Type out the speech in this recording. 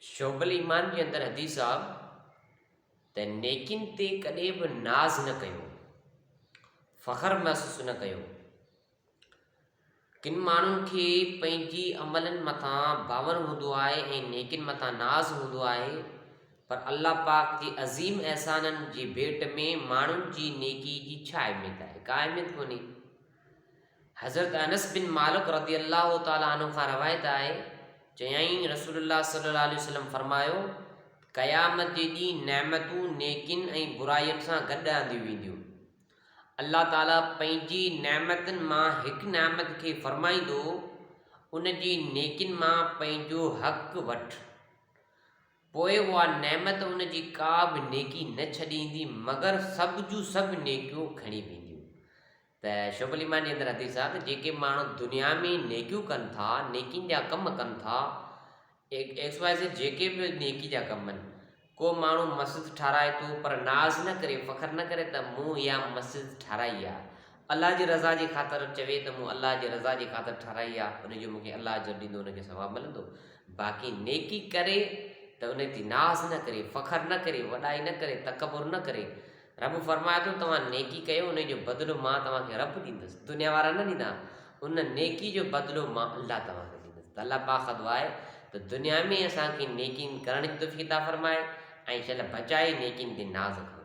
شعب الايمان جي اندر حديث آ ته نيڪين تي ڪڏهن به ناز نه ڪيو فخر محسوس نه ڪيو ڪن ماڻهن کي پنهنجي عملن مٿان باور هوندو آهي ۽ نيڪن مٿان ناز هوندو آهي پر الله پاڪ جي عظيم احسانن جي ڀيٽ ۾ ماڻهن جي نيڪي جي ڇا اهميت آهي ڪا اهميت ڪونهي حضرت انس بن مالڪ رضي الله تعالٰي عنه کان روايت آهي، چيائين رسول الله صلي الله عليه وسلم فرمايو، قيامت جي ڏينهن نعمتون نيڪين ۽ برائين سان گڏ آنديون وينديون. الله تعالٰي پنهنجي نعمتن مان هڪ نعمت کي فرمائيندو، ان جي نيڪين مان پنهنجو حق وٺ. پوء اها نعمت ان جي ڪا به نيڪي نه ڇڏيندي مگر سڀ جون سڀ نيڪيون کڻي وينديون. ته شعب الايمان جي اندر حديث آهي ته جيڪي ماڻهو دنيا ۾ نيڪيون ڪن ٿا نيڪين جا ڪم ڪن ٿا ايڪس واء زيڊ جيڪي به نيڪي جا ڪم آهن ڪو ماڻهو مسجد ٺاراهي ٿو پر ناز نه ڪري فخر نه ڪري ته مون اها مسجد ٺاراهي آهي الله جي رضا جي خاطر چوي ته مون الله جي رضا جي خاطر ٺاراهي آهي ان جو مونکي الله اجر ڏيندو ان کي ثواب ملندو باقي نيڪي ڪري ته ان تي ناز نه ڪري فخر نه ڪري وڏائي نه ڪري تڪبر نه ڪري رب فرمائي ٿو، توهان نيڪي ڪيو، انهيء جو بدلو مان توهان کي رب ڏيندس، دنيا وارا نه ڏيندا، ان نيڪي جو بدلو مان الله توهان کي ڏيندس ته الله پاڪ کان دعا آهي ته دنيا ۾ اسان کي نيڪين ڪرڻ جي توفيق عطا فرمائي ۽ شل بچائي نيڪين تي ناز ڪرو.